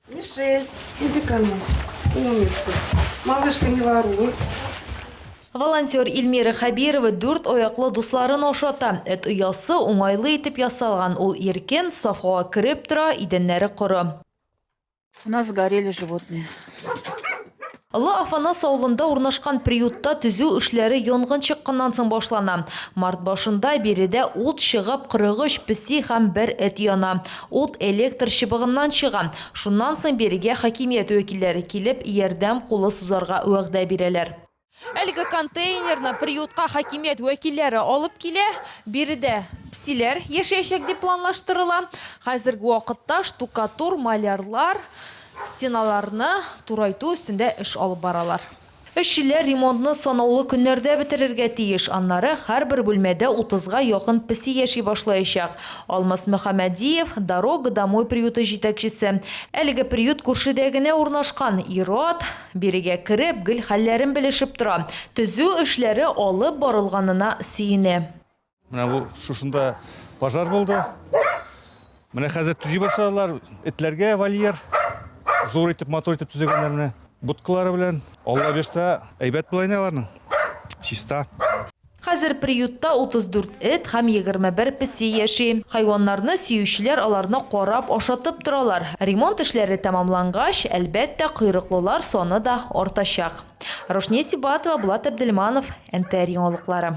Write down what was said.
Мишель, иди ко мне. Умница. Малышка, не воруй. Волонтер Ильмира Хәбирова дүрт аяклы дусларын ашата. Эт оясы уңайлы итеп ясалган, ул иркен, саф һава кереп тора, идәннәре коры. У нас сгорели животные. Олы Афанас авылында урнашкан приютта төзү эшләре янгын чыкканнан соң башлана. Март башында биредә ут чыгып, 43 песи һәм бер эт яна. Ут электр чыбыгыннан чыга. Шуннан соң бирегә хакимият вәкилләре килеп, ярдәм кулы сузарга вәгъдә бирәләр. Әлеге контейнерны приютка хакимият вәкилләре алып килә. Биредә песиләр яшәячәк дип планлаштырыла. Хәзерге вакытта штукатур, малярлар, Стеналарны турайту өстендә эш алып баралар. Эшчеләр ремонтны санаулы көннәрдә бетерергә тиеш, аннары һәрбер бүлмәдә утызга якын песи яши башлаячак. Алмаз Мөхәммәдиев, Дорога домой приюты җитәкчесе. Әлеге приют күршедә генә урнашкан. Ир-ат, бирегә кереп, гел хәлләрен белешеп тора. Төзү эшләре алып барылганына сөенә. Менә бу шушында пожар булды. Менә хәзер төзи башладылар. Этләргә вольер зур итеп, матур итеп төзегәннәр менә. Будкалары белән. Алла бирсә, әйбәт була инде аларның. Чиста. Хәзер приютта 34 эт һәм 21 песи яши. Хайваннарны сөючеләр аларны карап, ашатып торалар. Ремонт эшләре тәмамлангач, әлбәттә, койрыклылар саны да артачак. Рушния Сибатова, Булат Әбделманов, НТР яңалыклары.